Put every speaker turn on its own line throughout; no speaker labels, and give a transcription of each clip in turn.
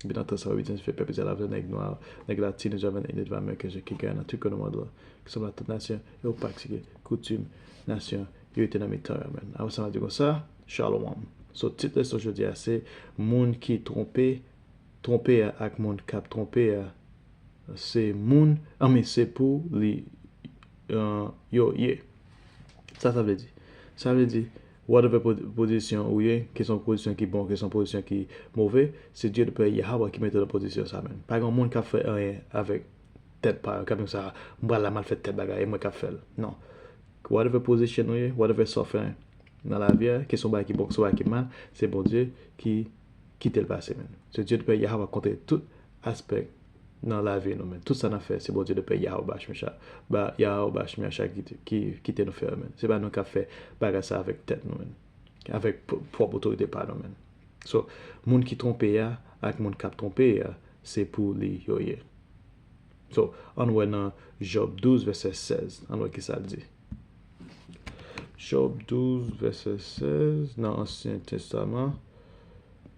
Depi nan tan sa yo Etienne fè pèp Izrayèl avè nèg nwa, nèg latin yo javann Enid va Ameriken je ki gaye nan tout kwen nan mond lan, ki sanble ak tout nasyon e ou patike koutim nasyon yo ete nan mitan yo menn. Apre sa map di konsa, Shalom. So tit leson jodi a se moun ki twonpe twonpe a ak moun kap twonpe a se moun I mean se pou li yo ye. Sa sa vle di? Sa vle di Whatever pozisyon ou ye, ke se yon pozisyon ki bon, ke se yon pozisyon ki move, se Dieu le Père Yahawah ki mete w nan pozisyon sa menn. Pa gen yon moun kap fè anyen avèk tèt pa yo, kap di sa a, m pral la mal fè tèl bagay, e mwen kap fè l. Non. Whatever position ou ye, whatever sa w fè nan lavi a, ke se yon bagay ki bon, ke se yon bagay ki mal, se Bondye ki kite l pase menn. Se Dieu le Père Yahawah ki kontwole tout aspè nan lavi nou men tout sa nap fè se Bondye nou pè Yahwah shmsha ba Yahwah shmsha ki kite nou fè yo men se pa nou kap fè bagay sa avèk tèt nou men avèk pwòp otorite pa nou men so moun ki twonpe a ak moun kap twonpe a se pou li yo ye so ann wè nan Job 12 vèsè 16 ann wè kisa l di Job 12 vèsè 16 nan ansyen testaman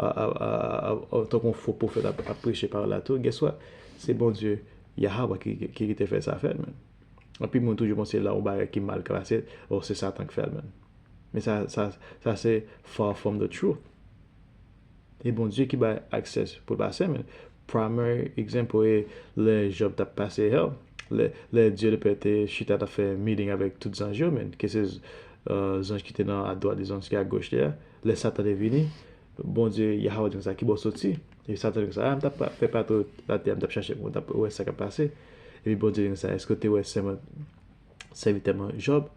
Tankou yon fo pwofèt ap preche pawòl la tou, guess what? Se Bondye, Yahawah ki te fè sa fèt menn. Anpil moun toujou panse la yon bagay ki mal klase, oh se satan ki fèl menn. Men sa se far from the truth. E Bondye ki bay access pou l pase menn. Primary example e lè Job tap pase hell, lè Dieu le Père te chita tap fè meeting avèk tout zanj yo menn, ke se zanj ki te nan a dwat li, zanj ki a goch li a. Lè Satan te vini, Bondye, Yahawah di konsa, Kibò w soti? Epi Satan di konsa, A, m t ap fè patou latè a, m t ap chache pou mwen, m t ap wè sa k ap pase. Epi Bondye di konsa, Èske w te wè sèman sèvitè mwen Jòb?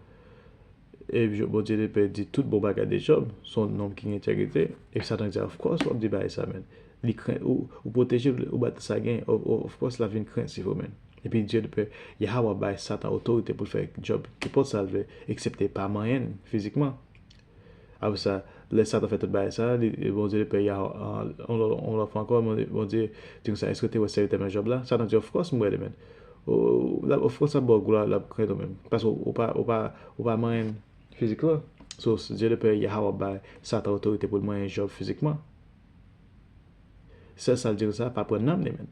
Epi Jòb, Bondye te pè di tout bon bagay de Jòb, s on nonm ki gen entègrite. Epi Satan di, Of kòs w ap di bagay sa menn. Li kren, ou pwoteje l, ou ba l tout sa l genyen, o, o, of kòs l ap vin krentif ou menn. Epi Dye te pè, Yahawah bay Satan otorite pou l fè ak Jòb nenpòt sa l vle, eksepte pa manyen l fizikman. Apre sa, lè Satan fè tout bagay sa a, li, Bondye li pè Yah, yon lòt, yon lòt fwa ankò, Bondye di konsa, Èske w te wè sèvitè mwen Jòb la? Satan di, Òfkòs m wè li, Mèt. O, l'ap, òfkòs l'ap ba w glwa, l'ap krenn ou menm. Paske ou pa, ou pa, ou pa manyen m fizikman. So, Dye le Pè Yah ap bay Satan otorite pou l manyen Jòb fizikman. Sèl sa l di konsa, Pa pran nanm li, Mèt.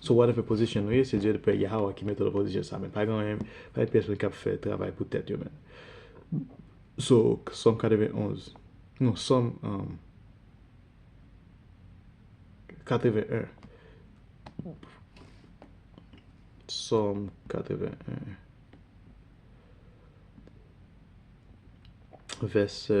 So whatever position ou ye se Dye pè Yahawah ki mete w nan position sa men pa gen anyen pa gen pyès moun kap fè travay pou tèt yo menm so Sòm 91 non Sòm 81 Sòm 81 vèsè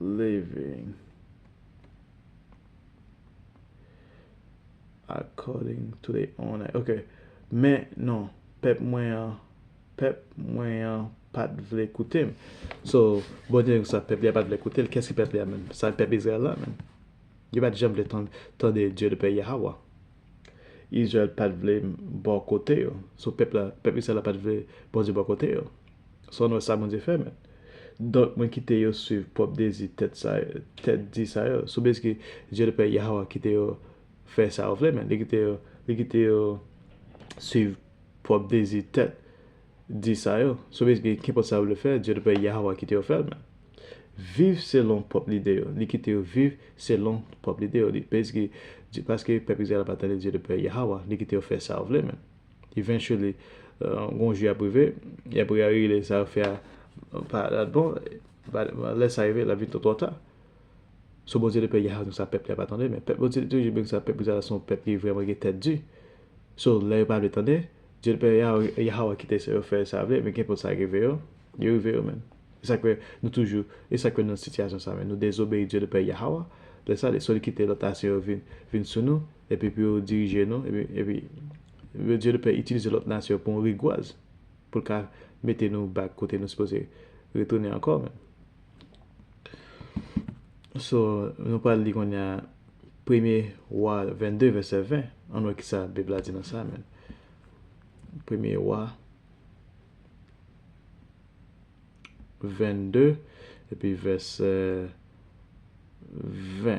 living according to the owner. Ok, men non, pèp mwen an, pèp mwen an pat vle koute m. So, bon Dye sa pèp li a pat vle koute l, kè s ki pèp li a menm? Sa pèp Izrayèl la menm? Yo pat janm vle tande Dye de pè Yahawah. Izrayèl pa t vle bò kote yo. So pèp la, pèp Izrayèl la pa t vle Bondye bò kote yo. San w wè sa Bondye fè men. Donk mwen kite yo swiv pwòp dezi tèt sa yo, tèt di sa yo. So bèske Dye le Pè Yahwah kite yo fè sa yo vle men. Li kite yo, li kite yo swiv pwòp dezi tèt. di sa yo, sou base de kenpòt sa yo vle fè, Dye nou Pè Yahweh a kite yo fè l, men, viv selon pwòp lide yo, li kite yo viv selon pwòp lide yo, li base de, paske pèp Izrayèl la pa tande Dye nou Pè Yahweh a, li kite yo fè sa yo vle, men, eventually, gon jou y ap rive, y ap reyalize sa yo fè a pa t bon, lè sa rive l ap vin twò ta. So Bondye te pè Yah konsa pèp li a pa tande men pèp Bondye te toujou byen konsa pèp Izrayèl la se yon pèp ki vrèman gen tèt di so lè yo pa vle tande Dye te pè Yah Yah a kite yo fè sa yo vle men kenpòt sa rive yo li rive yo menn e sak fè nou toujou e sak fè nou nan sitiyasyon sa menn nou dezobeyi Dye te pè Yah a lè sa li so li kite lòt nasyon yo vin vin sou nou epi pou yo dirije nou epi epi epi Dye te pè itilize lòt nasyon pou yon rigwaz pou l ka mete nou bak kote nou sipoze retounen ankò menn. So, nou pral li kounye a Premye Wa 22 vèsè 20. Ann wè ki sa Bib la di nan sa menm. Premye Wa 22 epi vèsè 20.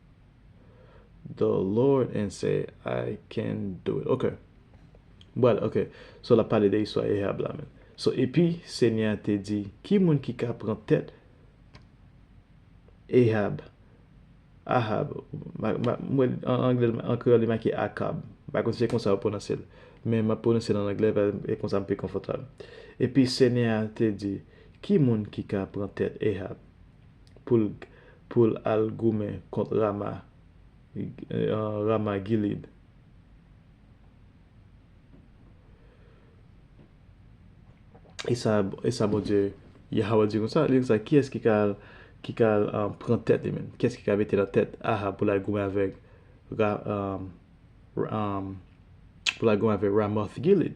the Lord and say I can do it ok Bwal ok so lap pale de istwa Ehab la menm so epi senyè a te di ki moun ki ka pran tèt Ehab Ahab an anglè an kreyòl li make Akab m pa konn si se konsa yo pwononse l men map pwononse l an anglè e konsa m pi konfòtab epi senyè a te di ki moun ki ka pran tèt Ehab. poul poul al goumen kont rama rama gilid. Esa esa bondye yahawah di konsa li konsa kiyes ki ka al ki ka al pran tèt li menm kiyes ki ka mete nan tèt ahab poul al goumen avèk ra poul al goumen avèk ramothgilid.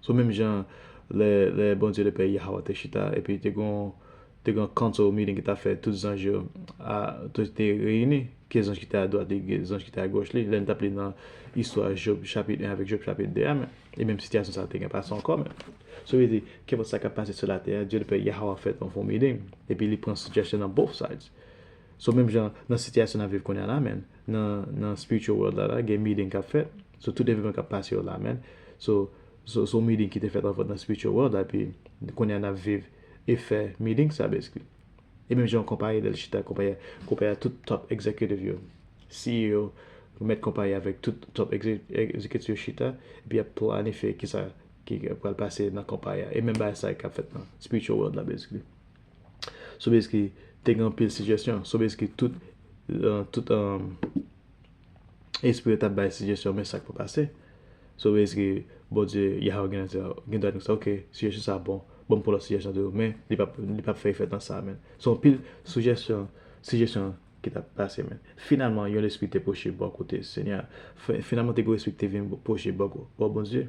So menm jan lè Bondye le Pè Yahwah te chita epi te gen yon council meeting ki ta fè tout zanj yo te reyini, ki zanj ki te adwat li, ki zanj ki te agoch li, lè n t ap li nan istwa Job chapit 1 avèk Job chapit 2 a menm, e menm sitiyasyon sa a te gen pase ankò menm. So vle di, kenpòt sa k ap pase sou latè a, Dye le Pè Yahwah fè yon fon meeting epi li pran suggestion nan both sides. So menm jan nan sitiyasyon n ap viv kounye a la menm, Nan spiritual world la la gen meeting kap fèt So tout evènman kap pase yo la men So se yon meeting ki te fèt anvan nan spiritual world la Epi kounye a nap viv efè meeting sa basically E menm jan yon konpayi lèl chita konpayi a Konpayi a tout top executive yo CEO mèt konpayi a avèk tout top executive yo chita Epi yap planifye kisa ki pral pase nan konpayi a E menm bagay sa kap fèt nan spiritual world la basically Sobeski te gen anpil sijesyon. Sobeski tout espri yo t ap bay sijesyon men sa k pou pase. Sobeski Bondye, Yahweh gen dwa di konsa, ok, sijesyon sa a bon, ban m pran lòt sijesyon toujou men li p ap fè efè nan sa a men. Se yon pil sijesyon ki t ap pase men. Finalman, yon lespri te pwoche bò kote Senyè a. Finalman, te gen yon espri ki te vin pwoche bò Bondye.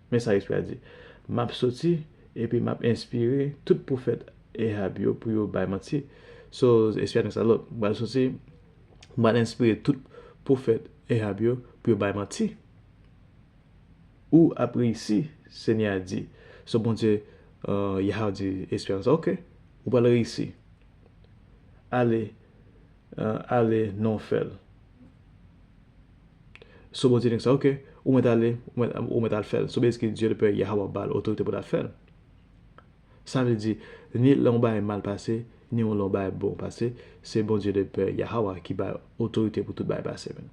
Men sa espri a di, M ap soti, epi m ap enspire tout pwofèt Ahab yo pou yo bay manti. So, espri a di sa, Look, m pral soti, m pral enspire tout pwofèt Ahab yo pou yo bay manti. Ou ap reyisi, Senyè a di. So, Bondye, Yah, di espri a konsa, Ok, ou pral reyisi. Ale. Ale non fel. So Bondye di knsa ok ou met ale ou met al fel so bezike Dye le pè Yah wap bal otorite pou ta fel. Sa vle di ni lè yon bagay mal pase ni yon lè yon bagay bon pase se Bondye le pè Yahawa ki bay otorite pou tout bagay pase men.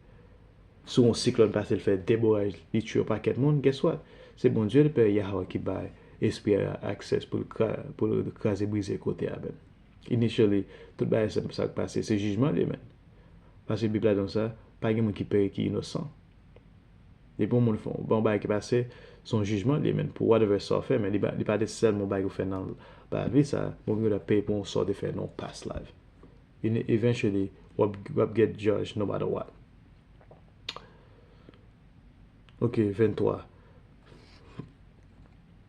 Si yon siklòn pase l fè de boray li tue yon pakèt moun guess what se Bondye le pè Yahawa ki bay espri a aksès pou l kraze brize kote a men. Initially, tout bagay sa k pase se jijman li menn. Pase bib la dan sa, pa gen moun ki peri ki inosan. Depi yon moun fon, bon bagay ki pase, son jijman li menn pou whatever sa w fè men li pa nesesèman yon bagay ou fè nan lavi sa, moun gen dwa peye pou yon sa w te fè nan yon past life. Eventually, wap get judge no matter what. Ok, 23.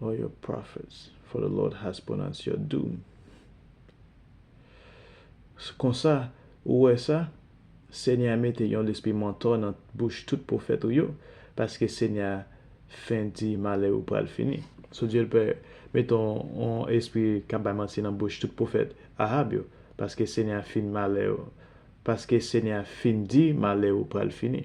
All your prophets for the Lord has pronounced your doom S konsa, ou wè sa, Senyè a mete yon lespri mantò nan bouch tout pwofèt ou yo, paske Senyè a fen di malè ou pral fini. So Dye l pè mete yon yon espri k ap bay manti nan bouch tout pwofèt Ahab yo, paske Senyè a fin malè ou paske Senyè a fin di malè ou pral fini.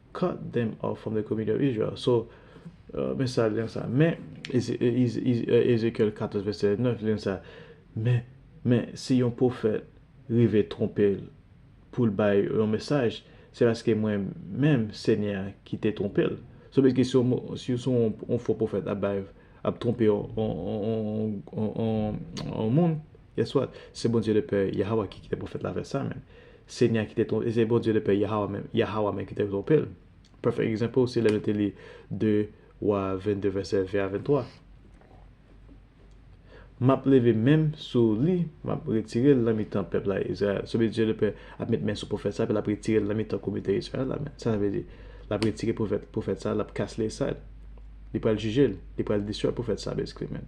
cut them off from the community of Israel. So, men sa lyen sa. Men, Ezekyèl 14 vèsè 9, lyen sa. Men, men, si yon pwofèt rive twonpe l pou l bay yon mesaj, se paske mwen menm, Senyè a, ki te twonpe l. So basicaly, si yon fo pwofèt ap bay, ap twonpe yon moun, Guess what? Se Bondye le Pè Yahawah ki kite pwofèt la fè sa menn. Senyè a ki te twonpe, se Bondye le Pè Yahawah menm, Yahawah menm ki te twonpe l. Perfect example se lè nou te li 2 Wa 22 vèsè 20 a 23. M ap leve men m sou li, m ap retire l nan mitan pèp la Izrayèl. So Bndye le Pè ap met men sou pwofèt sa epi l ap retire l nan mitan komite Izrayèl la menn. Sa sa vle di? L ap retire pwofèt sa, l ap cast li aside. Li pral jije l, li pral destroy pwofèt sa basically menn.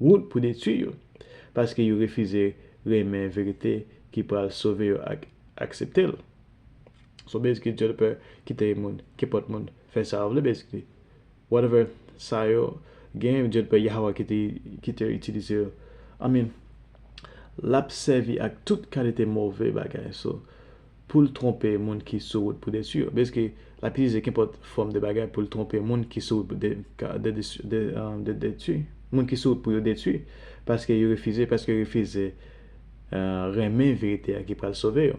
wout pou detui yo, paske yo refize renmen verite ki pral sove yo ak aksepte l. So basically Dieu le Père kite moun, kenpòt moun, fè sa yo vle basically. Whatever sa yo gen, Dieu le Père Yahweh kite kite yo itilize yo. I mean, l ap sèvi ak tout kalite move bagay so. pou l twonpe moun ki sou wout pou detwi yo. Bèske l ap itilize kenpòt fòm de bagay pou l twonpe moun ki sou wout pou detwi, moun ki sou wout pou yo detwi, paske yo refize, paske yo refize renmen verite a ki pral sove yo.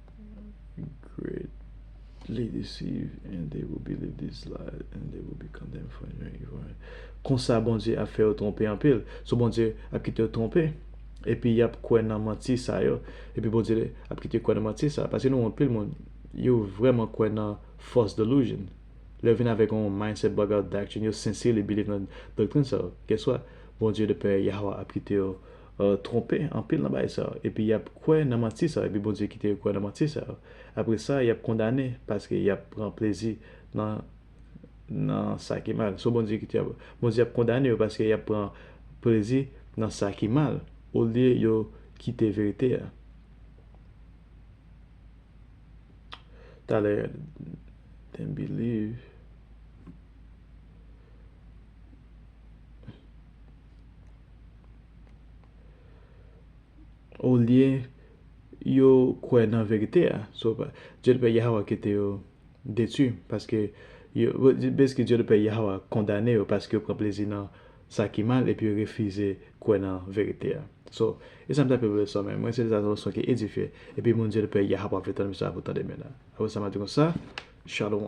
Great Li deceive and they will believe these lies and they will be condemned for enjoying evil and Konsa Bondye ap fè yo twonpe anpil. So Bondye ap kite yo twonpe epi y ap kwè nan manti sa yo. Epi Bondye ap kite yo kwè nan manti sa a. Paske nou wè anpil moun, yo vrèman kwè nan false delusion. Lè yo vin avèk yon mindset bug out doctrine, yo sincerely believe nan doctrine sa yo, guess what? Bondye, the Père Yahwah, ap kite yo. tronpe anpil nan bagay sa yo, epi y ap kwè nan manti sa yo, epi Bondye kite yo kwè nan manti sa yo. Apre sa, y ap kondane paske y ap pran plezi nan nan sa ki mal. So Bondye kite yo, Bondye ap kondane yo paske y ap pran plezi nan sa ki mal olye yo kite verite a. Talè, dem believe. Olye yo kwè nan verite a. So, Dye le Pè Yahawah kite yo detwi. Paske, basickly, Dye le Pè Yahawah kondane yo paske yo pran plezi nan sa ki mal epi yo refize kwè nan verite a. So, e sa m ta peye pou leson men. Mwen se lè sa yon leson ki edifye. Epi moun Dye le Pè Yahawah vle tande m sa pou tande men la. Apre sa m ap di konsa, Shalom.